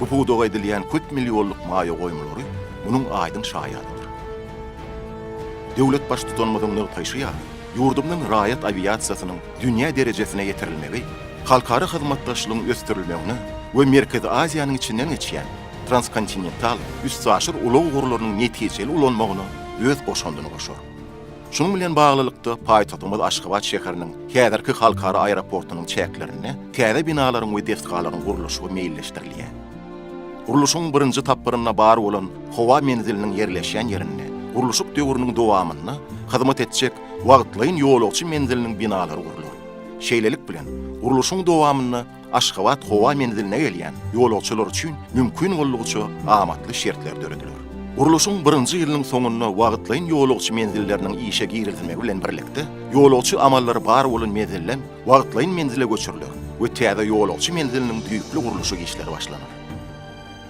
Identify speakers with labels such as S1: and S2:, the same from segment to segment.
S1: Bu pudaga edilýän köp millionlyk maýa goýumlary munuň aýdyň şaýadydyr. Döwlet Baştutanymyzyň nygtaýşy ýaly, ýurdumyzyň raýat awiasiýasynyň dünýä derejesine ýetirilmegi halkara hyzmatdaşlygyň ösdürilmegine we Merkezi Aziýanyň içinden geçýän transkontinental üstaşyr ulag ugurlarynyň netijeli ulanmagyna öz goşandyny goşar. Şunuň bilen baglylykda, paýtagtymyz Aşgabat şäheriniň häzirki halkara aeroportunyň çäklerinde täze binalaryň we desgalaryň gurluşygy meýilleşdirilýär. Gurluşygyň birinji tapgyrynda bar bolan howa menziliniň ýerleşýän ýerinde gurluşyk döwrüniň dowamynda hyzmat etjek wagtlaýyn ýolagçy menziliniň binalary gurlar. Şeýlelik bilen, gurluşygyň dowamynda Aşgabat howa menziline gelýän ýolagçylar üçin mümkin boldugyça amatly şertler dörediler. Gurluşyň birinji ýylynyň soňunda wagtlaýyn ýolagçy menzilleriniň işe girizilmegi bilen birlikde, ýolagçy amallary bar bolan menzilden wagtlaýyn menzile göçüriler we täze ýolagçy menziliniň düýpli gurluşyk işleri başlanar.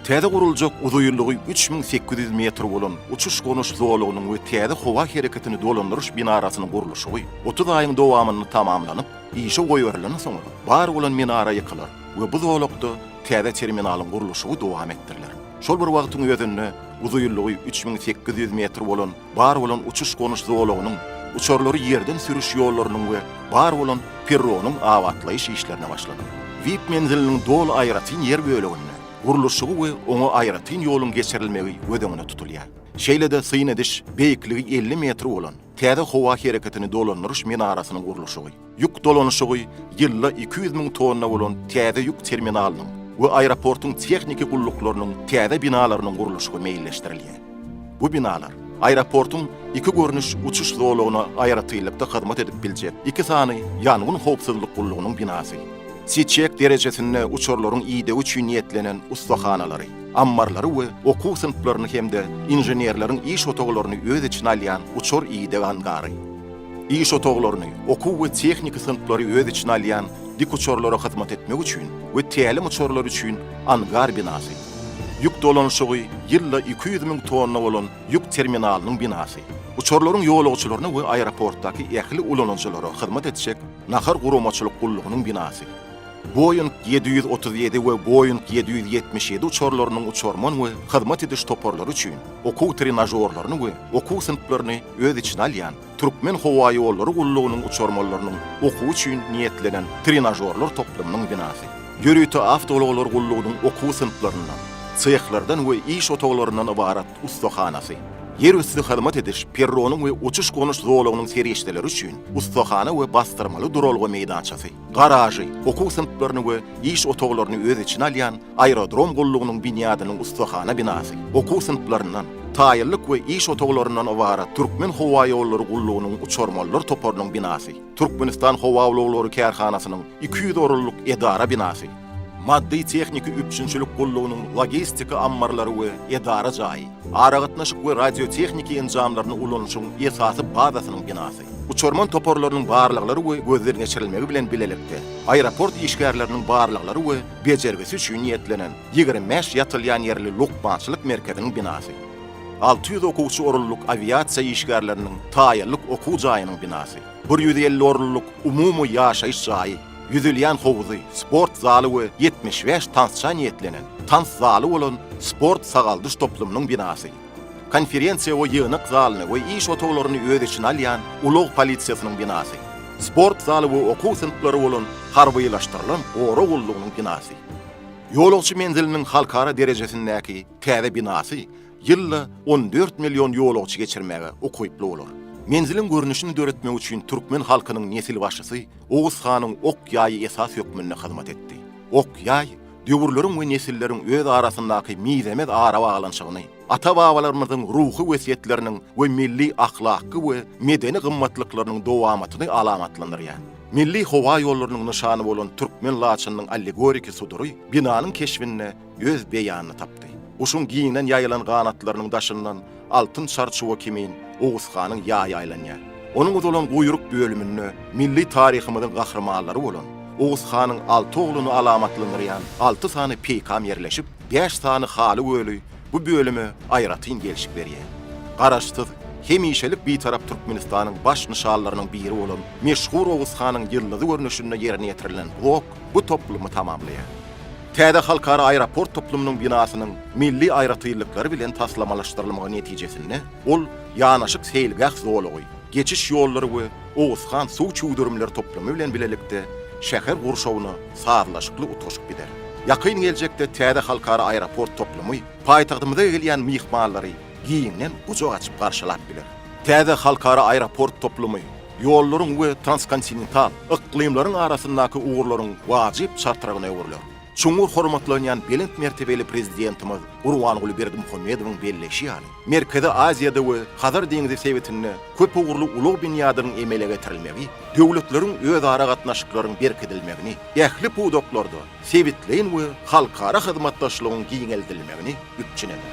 S1: Täze guruljak uzaýyllygy üç müň sekiz ýüz metr bolan uçuş-gonuş zolagynyň we täze howa hereketini dolandyryş binarasynyň gurluşygy otuz aýyň dowamynda tamamlanyp, Işe goýberilenden soňra, bar bolan minara ýykylar we bu zolakda täze terminalyň gurluşygy dowam etdiriler. Şol bir wagtyň özünde uzynlygy üç müň sekiz ýüz metr bolan bar bolan uçuş-gonuş zolagynyň, uçarlary ýerden sürüş ýollarynyň we bar bolan perronyň abatlaýyş işlerine başlanar. Vip menziliniň doly aýratyn ýer böleginde gurluşygy we oňa aýratyn ýoluň geçirilmegi göz öňünde tutulýar. Şeýle-de syn ediş beýikligi elli metr bolan Täze howa hereketini dolandyryş minarasynyň gurluşygy, ýük dolanyşygy ýylda iki ýüz müň tonna bolan täze ýük terminalynyň we aeroportuň tehniki gulluklarynyň täze binalarynyň gurluşygy meýilleşdirilýär. Bu binalar aeroportuň iki görnüş uçuş zolagyna aýratynlykda hyzmat edip biljek iki sany ýangyn howpsuzlyk gullugynyň binasy, Çiçek derejesinde uçarlaryň idegi üçin niýetlenen ussahanalary, ammarlary we okuw synplaryny hem-de inženerleriň iş otaglaryny öz içine alýan uçar ideg angary, iş otaglaryny, okuw we tehniki synplary öz içine alýan dikuçarlara hyzmat etmek üçin we tälim uçarlary üçin angar binasy, ýük dolanyşygy ýylda iki ýüz müň tonna bolan ýük terminalynyň binasy, uçarlaryň ýolagçylaryna we aeroportdaky ähli ulanyjylara hyzmat etjek nahar guramaçylyk gullugynyň binasy. Boeing ýedi ýüz otuz ýedi we Boeing ýedi ýüz ýetmiş ýedi uçarlarynyň uçarman we hyzmat ediş toparlary üçin okuw trenažorlaryny we okuw synplaryny öz içine alýan Türkmenhowaýollary gullugynyň uçarmanlarynyň okuwy üçin niýetlenen trenažorlar toplumynyň binasy. Ýörite awtoulaglar gullugynyň okuw synplaryndan, sehlerden we iş otaglaryndan ybarat ussahanasy. Ýerüsti hyzmat ediş perronyň we uçuş-gonuş zolagynyň serişdeleri üçin ussahana we basdyrmaly duralga meýdançasy. garažy, okuw synplaryny we iş otaglaryny öz içine alýan Aerodrom gullugynyň binýadynyň ussahana binasy, okuw synplaryndan, taýynlyk we iş otaglaryndan ybarat Türkmenhowaýollary gullugynyň uçarmanlar toparynyň binasy, Türkmenistan howaulaglary kärhanasynyň iki ýüz orunlyk edara binasy, maddy-tehniki üpjünçilik gullugynyň logistika ammarlary we edara jaýy, aragatnaşyk we radiotehniki enjamlaryny ulanyşyň esasy bazasynyň binasy. Uçarman toparlarynyň barlaglary we gözden geçirilmegi bilen bilelikde, aeroport işgärleriniň barlaglary we bejergisi üçin niýetlenen ýigrimi bäş ýatylýan ýerli lukmançylyk merkeziniň binasy, alty ýüz okuwçy orunlyk awiasiýa işgärleriniň taýýarlyk okuw jaýynyň binasy, bir ýüz elli orunlyk umumy ýaşaýyş jaýy, ýüzülýän howzy, sport zaly we ýetmiş bäş tansça niýetlenen tans zaly bolan sport-sagaldyş toplumynyň binasy, Konferensiýa we ýygnak zalyny we iş otaglaryny öz içine alýan ulag polisiýasynyň binasy, sport zaly we okuw synplary bolan harbylaşdyrylan gorag gullugynyň binasy, ýolagçy menziliniň halkara derejesindäki täze binasy ýylda on dört million ýolagçy geçirmäge ukyply bolar. Menziliň görnüşini döretmek üçin türkmen halkynyň nesilbaşysy Oguz hanyň ok-ýaýy esas hökmünde hyzmat etdi. Ok-ýaý döwürleriň we nesilleriň öz arasyndaky mizemez arabaglanyşygyny, ata-babalarymyzyň ruhy wesýetleriniň we milli ahlakky we medeni gymmatlyklarynyň dowamatyny alamatlandyrýar. Milli howa ýollarynyň nyşany bolan türkmen laçynynyň allegoriki sudury binanyň keşbinde öz beýanyny tapdy. Guşuň giňden ýaýylan ganatlarynyň daşyndan altyn çarçuwa kimin Oguzhanyň ýaýy aýlanýar. Onuň uzalan guýruk bölüminde milli taryhymyzyň gahrymanlary bolan Oguzhanyň alty ogluny alamatlandyrýan alty sany peýkam ýerleşip, bäş sany haly göli bu bölüme aýratyn gelşik berýär. Garaşsyz, hemişelik Bitarap Türkmenistanyň baş nyşanlarynyň biri bolan meşhur Oguzhanyň ýyldyzy görnüşinde ýerine ýetirilen zok, bu toplumy tamamlaýar. Täze halkara aeroport toplumynyň binasynyň milli aýratynlyklary bilen taslamalaşdyrylmagy netijesinde, ol ýanaşyk seýilgäh zolagy, geçiş ýollary we owusgan suw çüwdürimleri toplumy bilen bilelikde şäher gurşawyna sazlaşykly utgaşyp gider. Ýakyn geljekde täze halkara aeroport toplumy paýtagtymyza gelýän myhmanlary giňden gujak açyp garşylap biler. Täze halkara aeroport toplumy ýollaryň we transkontinental yklymlaryň arasyndaky ugurlaryň wajyp çartragyna öwrüler. Çuňňur hormatlanýan belent mertebeli Prezidentimiz Gurbanguly Berdimuhamedowyň belleýşi ýaly, Merkezi Aziýada we Hazar deňzi sebitinde köpugurly ulag binýadynyň emele getirilmegi döwletleriň özara gatnaşyklaryň berkidilmegini, ähli pudaklarda sebitleýin we halkara hyzmatdaşlygyň giňeldilmegini üpjün eder.